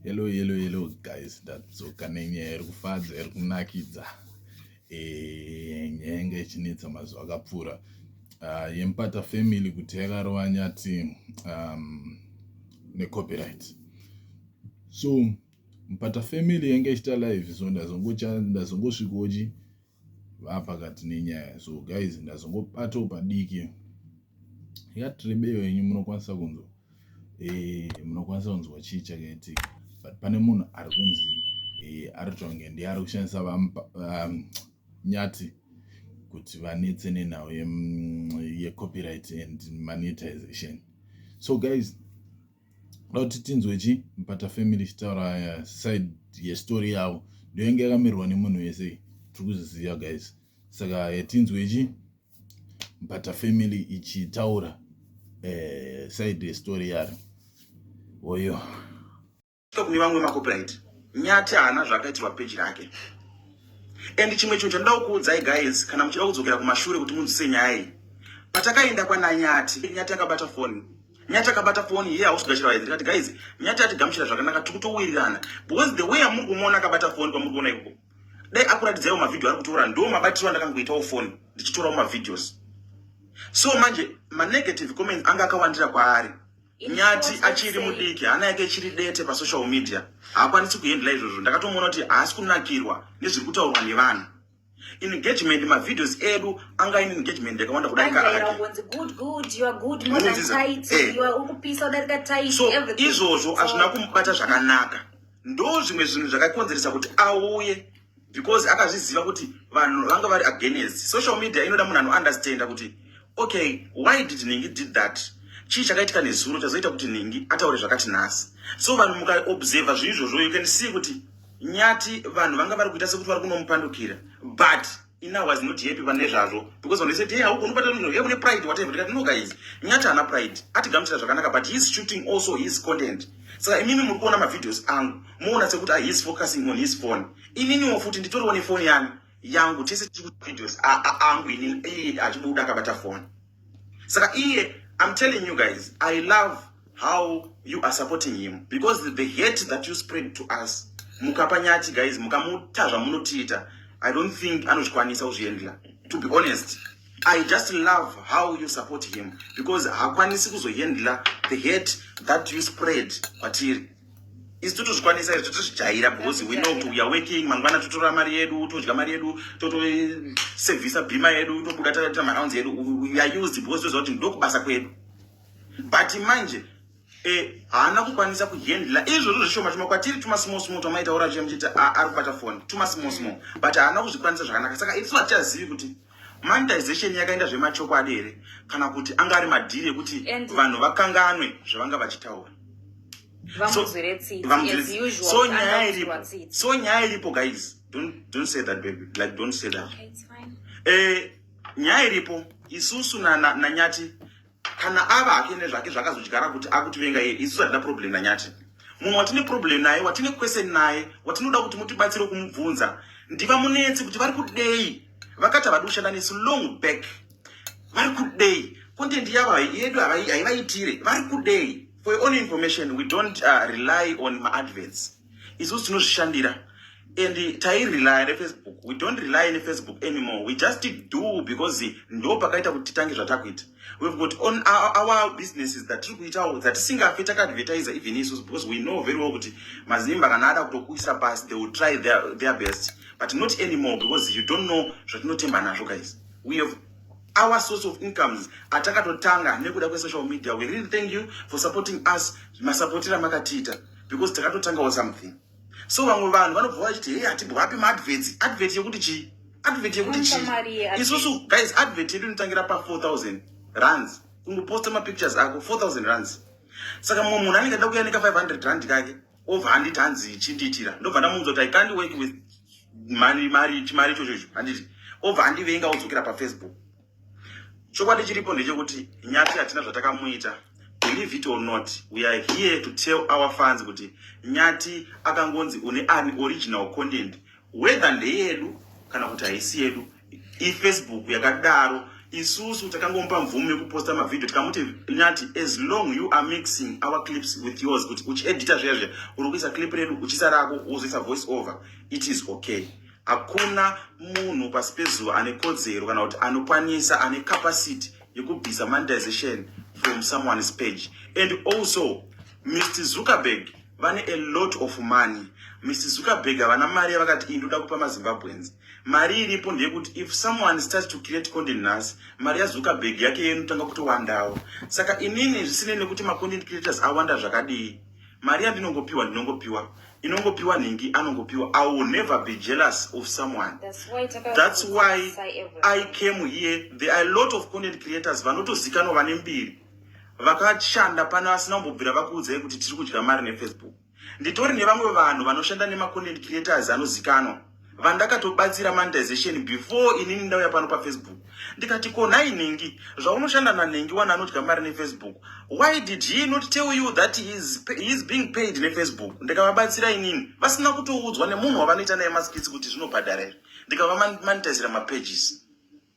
Hello hello hello guys, ndadzoka nenyaya iri kufadza iri kunakidza eh, nyaya yanga ichinetsa mazuva akapfuura ah, yemupata family kuti yakarova nyati um, necopyright so mupata family yanga ichita live so ndazongosvikochi vapakati nenyaya so guys ndazongobatawo padiki yakati rebeyo yenyu munokwanisa kunzwa eh, munokwanisa kunzwa chii chakaitika but pane munhu ari kunzi eh, ari kutonge ndiye ari kushandisa um, nyati kuti vanetse nenhau yecopyright and monetization so guys Ndoda kuti tinzwe chi mpata family ichitaura eh, side yestory yavo ndiyo yange yakamirwa nemunhu wese tiri kuzviziva guys saka eh, tinzwe chi mpata family ichitaura eh, side yestory yaro oyo kune vamwe macopyright nyati haana zvaakaitirwa peji rake and chimwe chinhu chandoda kukuudzai guys kana muchida kudzokera kumashure kuti munzwise nyaya iyi patakaenda kwananyati nyati akabata foni nyati akabata foni iye hausi kugashira vaenzi ndikati guys nyati atigamuchira zvakanaka tiri kutowirirana because the way amuri kumuona akabata foni kwamuri kuona ikoko dai akuratidzaiwo mavhidhio ari kutora ndo mabatirwo andakangoitawo foni ndichitorawo mavhidhios so manje manegative comments anga akawandira kwaari nyati achiri mudiki hana yake ichiri dete pasocial media haakwanisi kuhendla izvozvo ndakatomuona kuti haasi kunakirwa nezviri kutaurwa nevanhu engagement mavideos edu anga ine engagement yakawanda kudarika akeizvozvo hazvina kumubata zvakanaka ndo zvimwe zvinhu zvakakonzeresa kuti auye because akazviziva kuti vanhu vanga vari against social media inoda munhu anounderstanda kuti okay why did ningi did that chii chakaitika nezuro chazoita kuti ningi ataure zvakati nhasi so vanhu mukaobserva zviizvozvo you can see kuti Nyati vanhu vanga vari kuita sekuti vari kunomupandukira but Ina was not happy pane zvazvo because when they said hey haugoni kubata munhu hey une pride whatever ndikati no guys Nyati haana pride atigamuchira zvakanaka but he is shooting also his content saka imimi muri kuona mavideos angu moona sekuti ah, he is focusing on his phone ininiwo futi nditoriwo nefoni yangu yangu tese tiri kuvideos angu inini achibuda akabata phone saka iye i'm telling you guys i love how you are supporting him because the hate that you spread to us mukapa nyati guys mukamuta zvamunotiita i don't think anozvikwanisa kuzviendla to be honest i just love how you support him because hakwanisi kuzoendla the hate that you spread kwatiri isu totozvikwanisa izvi totozvijaira because we know kuti we are working mangwana totora mari yedu todya mari yedu totosevhisa bhima yedu tobuda taita marounds yedu we are used because toziva kuti ndokubasa kwedu but manje eh, haana kukwanisa kuhandla izvozvo zvishoma tuma kwatiri tuma small small twamaitaura chiya muchiti ari kubata foni tuma small small but haana kuzvikwanisa zvakanaka saka isu hatichazivi kuti Monetization yakaenda zvemachokwadi here kana kuti anga ari madhiri ekuti vanhu vakanganwe zvavanga vachitaura? So nyaya iripo, so nyaya iripo guys, don't, don't say that baby, like don't say that. Okay, it's fine. Eh, nyaya iripo isusu nanyati na, na kana ava hake nezvake zvakazodyara kuti akutivenga iye isu hatina problem nanyati munhu watine problem naye watine question naye watinoda kuti mutibatsire kumubvunza ndiva munetsi kuti vari kudei vakati havadi kushanda nesu long back vari kudei content yavo yedu haivaitire vari kudei for your own information we don't uh, rely on maadverts isusu tinozvishandira and tairelya nefacebook we don't rely nefacebook anymore we just do because ndo pakaita kuti titange zvatakuita we've got on our, our businesses that tiri kuitawo dzatisingafe takaadvertisa even isusu because we know very well kuti mazimba kana ada kutokuisa pasi they will try their, their best but not anymore because you don't know zvatinotemba nazvo guys we have our source of incomes atakatotanga nekuda kwesocial media we really thank you for supporting us masapotira makatiita because takatotangawo something so vamwe vanhu vanobva vachiti hei hatibwapi maadvets advet yekuti chii advet yekuti chii isusu guys advet yedu inotangira pa 4000 runs kungoposta mapictures ako 4000 runs saka mumwe munhu anenge ada kuya neka 500 rand kake obva anditi hanzi chindiitira ndobva ndamunzwa kuti i can't work with mari mari chimari ichocho icho handiti obva andivenga odzokera pafacebook Chokwadi chiripo ndechekuti Nyati hatina zvatakamuita. Believe it or not, we are here to tell our fans kuti Nyati akangonzi une an original content whether ndeyedu kana kuti haisi yedu. IFacebook yakadaro isusu takangomupa mvumo yekuposta mavhidhio tikamuti nyati as long you are mixing our clips with yours kuti uchiedita zviya zviya uri kuisa clip redu uchisa rako wozoisa voice over it is okay Hakuna munhu pasi pezuva ane kodzero kana kuti anokwanisa ane capacity yekubvisa monetization from someone's page and also Mr Zuckerberg vane a lot of money Mr Zuckerberg havana mari yavakati iyi ndoda kupa mazimbabweans mari iripo ndeyekuti if someone starts to create content nhasi mari yazuckerberg yake yenotanga kutowandawo saka inini zvisinei nekuti macontent creators awanda zvakadii Mari yandinongopiwa ndinongopiwa inongopiwa nhingi anongopiwa i will never be jealous of someone that's why i came here there are a lot of content creators vanotozikanwa vane mbiri vakashanda pano vasina kumbobvira vakuudzai kuti tiri kudya mari nefacebook nditori nevamwe vanhu vanoshanda nemacontent creators anozikanwa vandakatobatsira monetization before inini ndauya pano pafacebook ndikati ko nhai nhingi zvaunoshanda nanhingi wani anodya mari nefacebook why did he not tell you that he is, he is being paid nefacebook ndikavabatsira inini vasina kutoudzwa nemunhu wavanoita naye maskitsi kuti zvinobhadhara here ndikavamanitizira mapages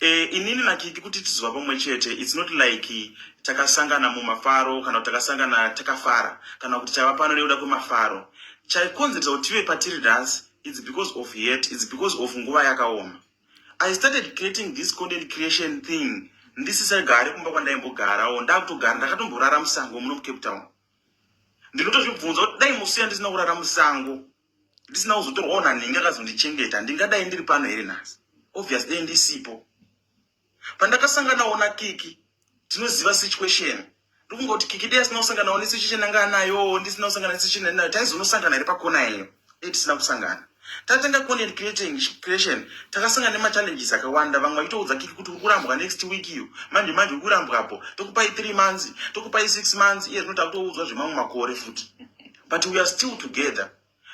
Eh, inini nakiki kuti tizova pamwe chete its not like takasangana mumafaro kana kuti takasangana takafara kana kuti tava pano nekuda kwemafaro chaikonzeresa kuti tive patiri nhasi its because of het its because of nguva yakaoma i started creating this content creation thing ndisisagari kumba kwandaimbogarawo ndakutogara ndakatomborara musango muno mucape town ndinotozvibvunza kuti dai musiya ndisina kurara musango ndisina kuzotorwawo nanhingi akazondichengeta ndingadai ndiri pano here nhasi obvious dei ndisipo pandakasanganawo nakiki tinoziva situation ndikungoti kiki dei asina kusanganawo nesituation anga anayo ndisina kusangana nesituation anayo taizonosangana here pakona iyeyo dei tisina kusangana tatanga content creating creation takasanga nemachallenges akawanda vamwe vachitoudza kiki kuti uri kurambwa next week iyo manje manje uri kurambwapo tokupai three months tokupai six months iye zvino takutoudzwa zvemamwe makore futi but we are still together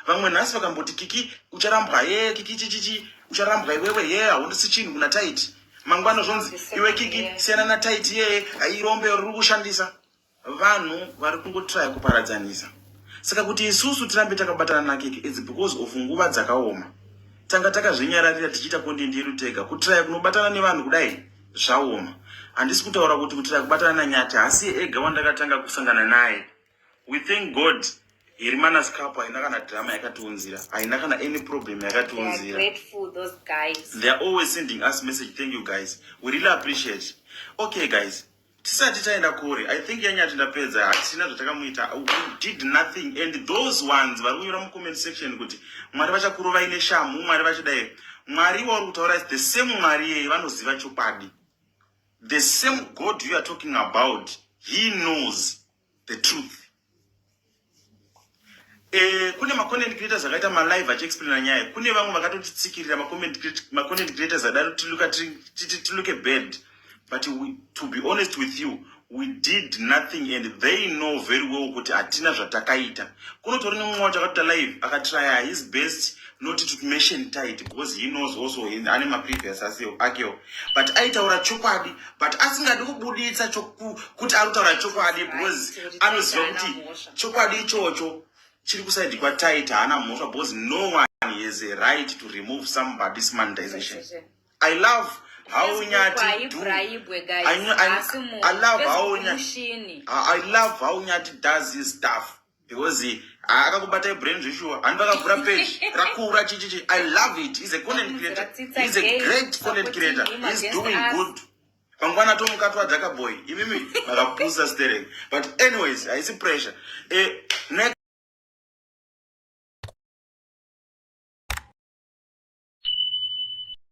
vamwe nhasi vakamboti kiki ucharambwa ye kiki chichichi ucharambwa iwewe ye haundisi chinhu kuna taiti mangwana zvonzi iwe kiki siyana na taiti ye hairombe riri kushandisa vanhu vari kungotiraya kuparadzanisa saka kuti isusu tirambe takabatana na kiki its because of nguva dzakaoma tanga takazvinyararira tichiita kondindi yedu tega kutiraya kunobatana nevanhu kudai zvaoma handisi kutaura kuti kutiraya kubatana na nyati hasi ega wandakatanga kusangana naye We thank God Herimanas Cup haina kana drama yakatiunzira, haina kana any problem yakatiunzira. They are grateful those guys. They are always sending us message. Thank you guys. We really appreciate. Okay guys. Tisati taenda kure. I think yanya tindapedza hatisina zvatakamuita. We did nothing and those ones vari kunyora mu comment section kuti Mwari vachakurovai neshamhu, Mwari vachidai. Mwari wauri kutaura is the same Mwari yeye vanoziva chokwadi. The same God you are talking about, he knows. the truth Eh, kune macontent creators akaita malive achiexplaina nyaya kune vamwe vakatotitsikirira macontent creators adaro tiluke bad but we, to be honest with you we did nothing and they know very well kuti hatina zvatakaita kunotori nemumwe wacho akatoita live akatraya his best not to mention tight because he knows also in ane maprevious aseo akewo but aitaura chokwadi but asingadi kubuditsa kuti ari kutaura chokwadi because anoziva kuti chokwadi ichocho chiri kusaidi kwatit haana mhosva because no one has a right to remove somebody's monetization i love how nyati do I, I, I love how nyati I love how nyati does his stuff because ah, akakubatai brain zveshuwa handi vakavhura page rakura chichichi i love it is a content creator is a great content creator is doing good pangwana tomuka twadzaka boy imimi makapusa sterek but anyways haisi pressure eh,